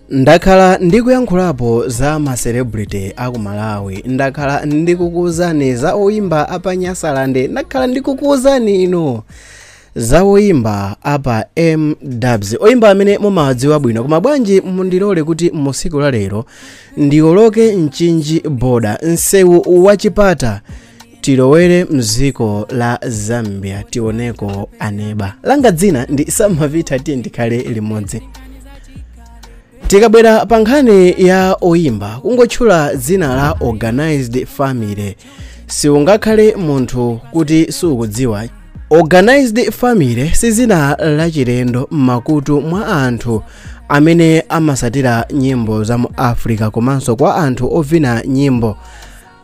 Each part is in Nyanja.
ndakhala ndikuyankhulapo za ma celebrity a ku malawi ndakhala ndikukuuzani za oyimba apa nyasalande ndakhala ndikukuuzani inu za oyimba apa mdubs oyimba amene mumawadziwa bwino koma bwanji mundilole kuti musiku la lero ndioloke mchinji boda msewu wachipata tilowere mdziko la zambia tioneko aneba langa dzina ndi samavita tiye ndikhale limodzi tikabwera pa nkhani ya oyimba kungotchula dzina la organized family siungakhale munthu kuti sukuidziwa organized family si dzina lachilendo m'makutu mwa anthu amene amasatira nyimbo za mu africa komanso kwa anthu ovina nyimbo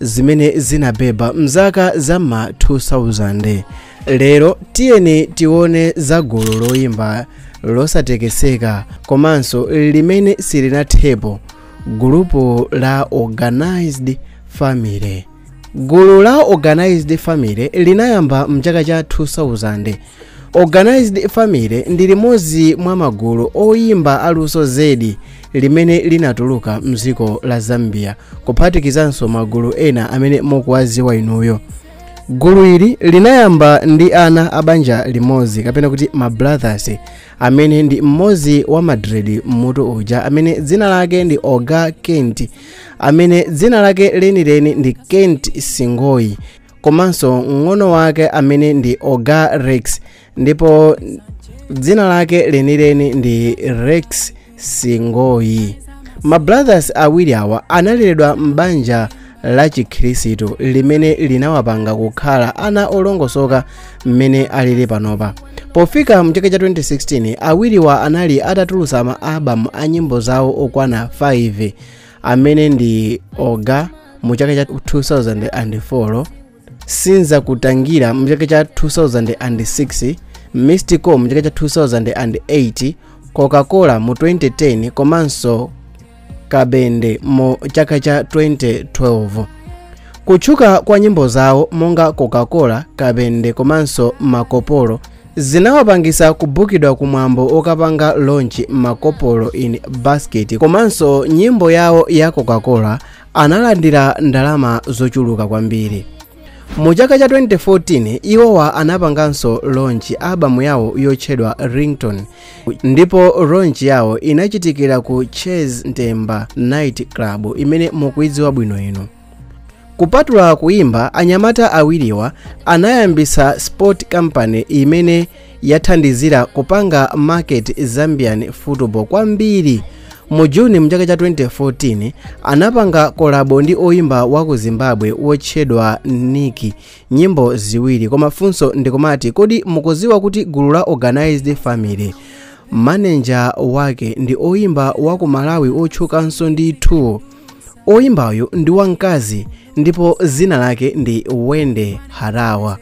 zimene zinabeba mzaka za ma 2000 lero tiyeni tione za gulu loyimba losatekeseka komanso limene silinathepo gulupu la organized family gulu la organized family linayamba mchaka cha 2000 Organized Family ndi limodzi mwa magulu oyimba aluso zedi limene linatuluka mdziko la Zambia kuphatikizanso magulu ena amene mukuwadziwa inuyo. Gulu ili linayamba ndi ana a banja limodzi kapena kuti ma brothers amene ndi mmodzi wa madredi mmutu uja amene dzina lake ndi Orga Kent amene dzina lake lenileni ndi Kent Singoyi komanso mng'ono wake amene ndi orga rex ndipo dzina lake lenileni ndi rex singoyi mabrothers awiri awa analeredwa m'banja la chikhristu limene linawapanga kukhala ana olongosoka mmene alili panopa pofika mchaka cha 2016 awiriwa anali atatulutsa ma album a nyimbo zawo okwana 5 amene ndi orga mu chaka cha 2004 sinza kutangira mu chaka cha 2006 mystical mu chaka cha 2008 coca-cola mu 2010 komanso kabende mu chaka cha 2012 kutchuka kwa nyimbo zawo monga coca-cola kabende komanso makopolo zinawapangisa kubukidwa ku mwambo wokapanga launch makopolo in basket komanso nyimbo yawo ya coca-cola analandira ndalama zochuluka kwambiri mu chaka cha 2014 iwowa anapanganso launch albamu yawo yotchedwa ringtone ndipo launch yawo inachitikira ku chez ntemba night club imene mukuidziwa bwino inu kupatula kuimba anyamata awiriwa anayambisa sport company imene yathandizira kupanga market zambian football kwambiri mu juni mchaka cha 2014 anapanga kolabo ndi oimba wa ku zimbabwe wotchedwa nikki nyimbo ziwiri koma funso ndikumati kodi mukuziwa kuti gulu la organized family maneja wake ndi oimba wa ku malawi otchukanso ndi 2 oyimbayu ndi wamkazi ndipo zina lake ndi wendy harawa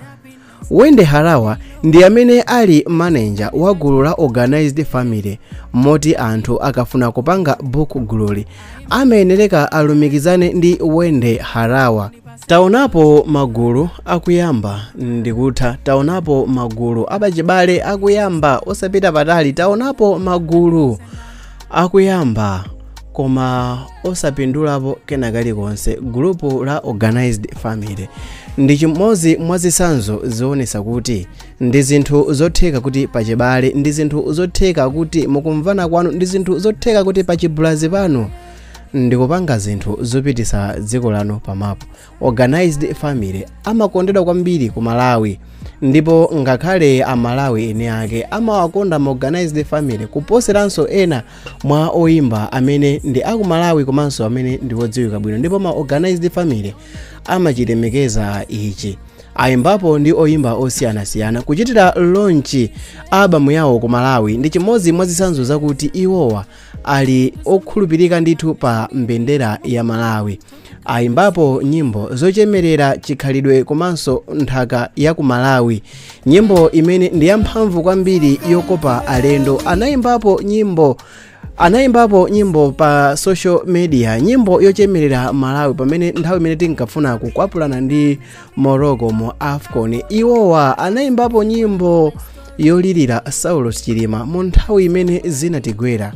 wendy harawa ndi amene ali maneja wa gulu la organized family moti anthu akafuna kupanga book gululi amayenereka alumikizane ndi wendy harawa taonapo magulu akuyamba ndikutha taonapo magulu apachibale akuyamba osapita patali taonapo magulu akuyamba koma osapindulapo kena kalikonse gulupu la organized family ndi chimodzi mwa zitsanzo zionetsa kuti ndi zinthu zotheka kuti pachibale ndi zinthu zotheka kuti mukumvana kwanu ndi zinthu zotheka kuti pachibulazi panu ndikupanga zinthu zopitisa dziko lanu pamapu organized family amakondedwa kwambiri ku malawi ndipo ngakhale amalawi eni ake amawakonda ma organized family kuposeranso ena mwa oyimba amene ndi akumalawi komanso amene ndi odziwika bwino ndipo ma organized family amachilemekeza ichi ayimbapo ndi oyimba osiyanasiyana kuchitira launch album yawo ku malawi ndi chimodzi mwa zitsanzo zakuti iwowa ali okhulupirika ndithu pa mbendera ya malawi ayimbapo nyimbo zochemerera chikhalidwe komanso nthaka ya ku malawi nyimbo imene ndi yamphamvu kwambiri yokopa alendo anayimbapo nyimbo anayimbapo nyimbo pa social media nyimbo yochemerera malawi pamene nthawi imene tinkafuna kukwapulana ndi morocco mu afcon iwowa anayimbapo nyimbo yolirira saulos chilima mu nthawi imene zinatigwera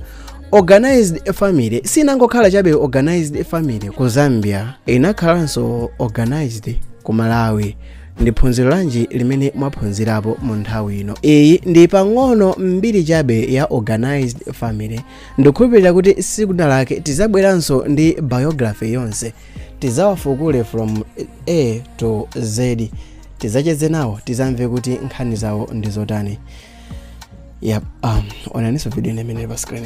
organized family sinangokhala chabe organized family ku zambia inakhalanso organized ku malawi ndi phunziro lanji limene mwaphunzirapo mu nthawi ino iyi ndi pang'ono mbiri chabe ya organized family ndikukhulupirira kuti siku lina lake tizabweranso ndi biography yonse tizawafukule from a to z tizacheze nawo tizamve kuti nkhani zawo ndi zotani yep onaninso video imene ili pa screen